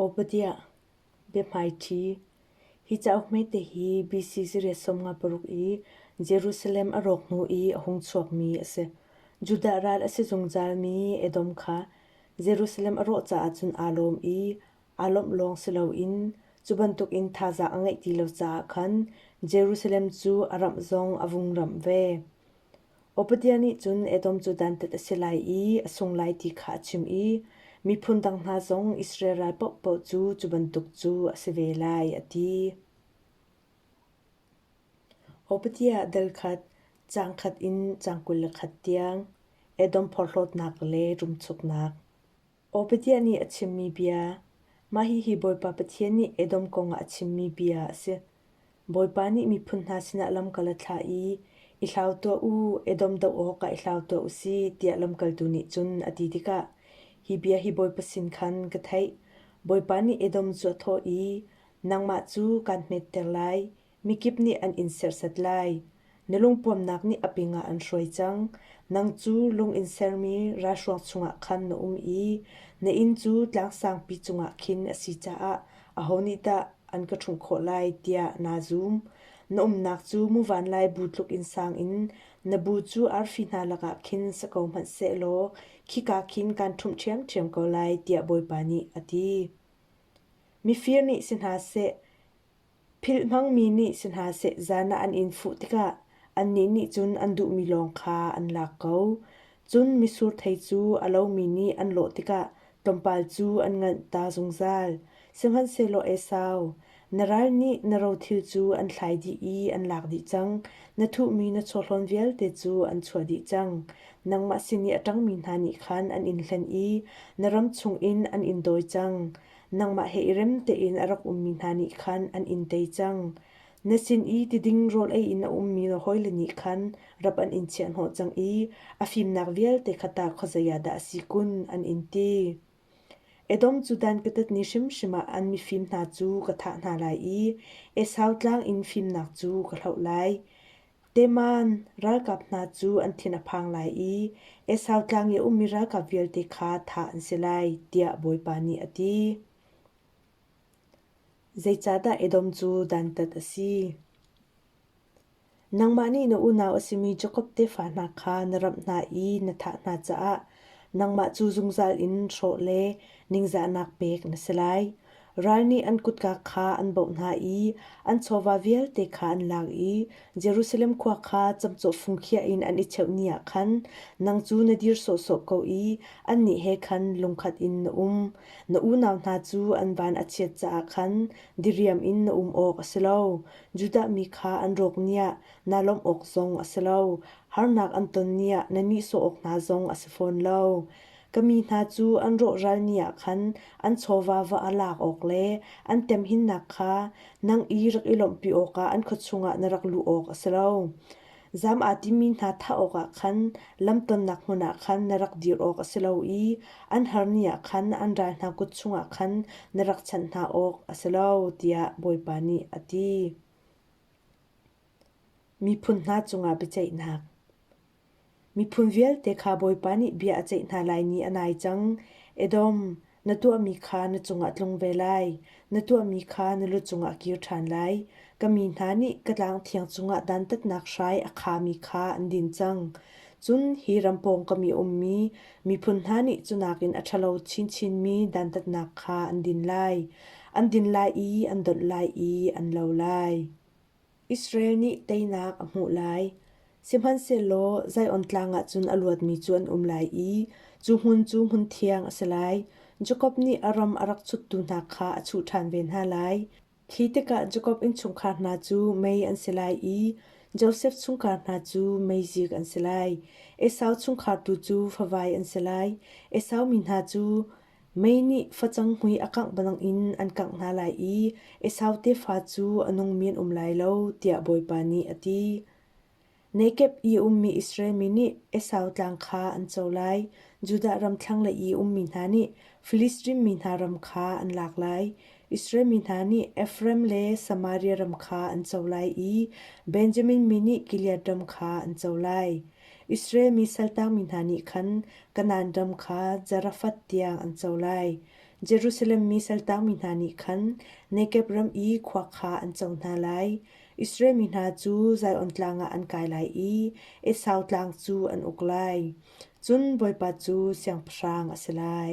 Obadiah, biahmaiṭhi, hi cauk hmete hi BC zarep sawmnga paruk i Jerusalem a rawk hnu i a hung chuakmi a si. Judah ral a si zungzalmi Edom kha Jerusalem a rawh caah cun aa lawm i aa lawmh lawng si loin cu bantukin thazaang a ngeih ti lo caah khan Jerusalem cu a ramh zong a vung ramh ve. Obadia nih cun Edom cu dantat a si lai i a sung lai ti kha a chim i miphun dang hna zong Israel ral paohpaoh cu cu bantuk cu a si ve lai, a ti. Obadia dal khat, caang khat in caang kul le khat tiang Edom porhlawtnak le ṭumchuknak. Obadiah nih a chimmi bia Mah hihi Bawipa Pathian nih Edom kong ah a chimmi bia a si: Bawipa nih miphun hna sinah lamkal a thlah i, “I hlau tuah u, Edom doh awkah i hlau tuah u sih,” tiah lamkaltu nih cun a ti tikah, hi bia hi Bawipa sin khan ka theih: Bawipa nih Edom cu a thawh i, “Nangmah cu kaan hmetter lai. Mikip nih an in serhsat lai. Na lungpuamnak nih a pingah an hruai cang. Nang cu lung in sermi ralhruang chungah khan na um i na inn cu tlangsangpi cungah khin a si caah aho nih dah an ka ṭhumh khawh lai tiah naa zum. Na umnak cu muvan lai bu tluk in sang in na bu cu arfi hna lakah khin si ko hmanh sehlaw khika khin kaan ṭhumh ṭhiamṭhiam ko lai tiah Bawipa nih a ti. Mifir nih si hna seh, Philh hmangmi nih si hna seh zan ah an in fuh tikah annih nih cun an duhmi lawng kha an lak ko. Cun mitsur thei cu a lomi nih an lawh tikah tlawmpal cu an nganh ta zungzal. Sihmanhsehlaw Esau, na ral nih na rothil cu an thlai dih i an lak dih cang; na thuhmi na chawhlawn vialte cu an chuah dih cang. Nangmah sin i a ṭangmi hna nih khan an in hlen i na ram chungin an in dawi cang. nangmah he i rem tein a rak ummi hna nih khan an in tei cang. Na sin i tiding rawl ei in a ummi na hawile nih khan rap an in chiahhnawh cang i a fimnak vialte kha ta khuazei ah dah a si kun, an in ti. Edom cu dan katat ni hrimhrim ah an mifim hna cu ka thah hna lai i Esau tlang in fimnak cu ka hloh lai. Teman ralkap hna cu an thin a phang lai i Esau tlang i a ummi ralkap vialte kha thah an si lai, tiah Bawipa nih a ti. Zeicahdah Edom cu dantat a si? Nangmah nih na unau a simi Jakob tefa hna kha na ramh hna i na thah hna caah nangmah cu zungzal in hrawh le ningzahnak pek na si lai. Ral nih an kutka kha an bauh hna i an chawva vialte kha an lak i Jerusalem khua kha camcawh fungkhiah in an i cheuh ni ah khan nang cu na dir sawhsawh ko i annih he khan lungkhat in na um. Na unau hna cu an van a chiat caah khan diriam in na um awk a si lo. Judah mi kha an rawk ni ah naa lawmh awk zong a si lo. Harnak an ton ni ah na nihsawh awk hna zong a si fawn lo. Ka mi hna cu an rawhralmi ah khan an chawva-va a lak awk le an temhinnak kha nang i rak i lawmhpi awkah an khua chungah na rak luh awk a si lo. Zam aa timi hna thah awkah khan lamtonnak hmun ah khan na rak dir awk a si lo i an harni ah khan an ral hna kut chungah khan na rak chanh hna awk a si lo, tiah Bawipa nih a ti. Miphun hna cungah biaceihnak Miphun vialte kha Bawipa nih bia a ceih hna lai ni a nai cang. Edom, na tuahmi kha na cungah tlung ve lai; na tuahmi kha na lu cungah kir ṭhan lai. Ka mi hna nih ka tlang thiang cungah dantatnak hrai a khami kha an din cang. Cun hi ram pawngkam i ummi miphun hna nih cu nakin a ṭhalo chinchinmi dantatnak kha an din lai. An din lai i an donh lai i an lo lai. Israel nih teinak a hmuh lai, sihmanhsehlaw Zion Tlang ah cun a luatmi cu an um lai i cu hmun cu hmun thiang a si lai. Jakob nih a ram a rak chuttu hna kha a chuh ṭhan ve hna lai. Khi tikah Jakob innchungkhar hna cu mei an si lai i Josef chungkhar hna cu meizik an si lai. Esau chungkhar tu cu favai an si lai. Esau mi hna cu Mei nih facang hmui a kangh banangin an kangh hna lai i Esau tefa cu a nungmi an um lai lo, tiah Bawipa nih a ti. Nekeb i ummi Israel mi nih Esau tlang kha an co lai, Judah ram thlanglei i ummi hna nih Filistin mi hna ram kha an lak lai. Israel mi hna nih Efraim le Samaria ram kha an co lai i Benjamin mi nih Gilead ram kha an co lai. Israel mi saltangmi hna nih khan Kanaan ram kha Zarafath tiang an co lai. Jerusalem mi saltangmi hna nih khan Negeb ram i khua kha an co hna lai. Israel mi hna cu Zion tlang ah an kai lai i Esau tlang cu an uk lai. Cun Bawipa cu siangpahrang a si lai.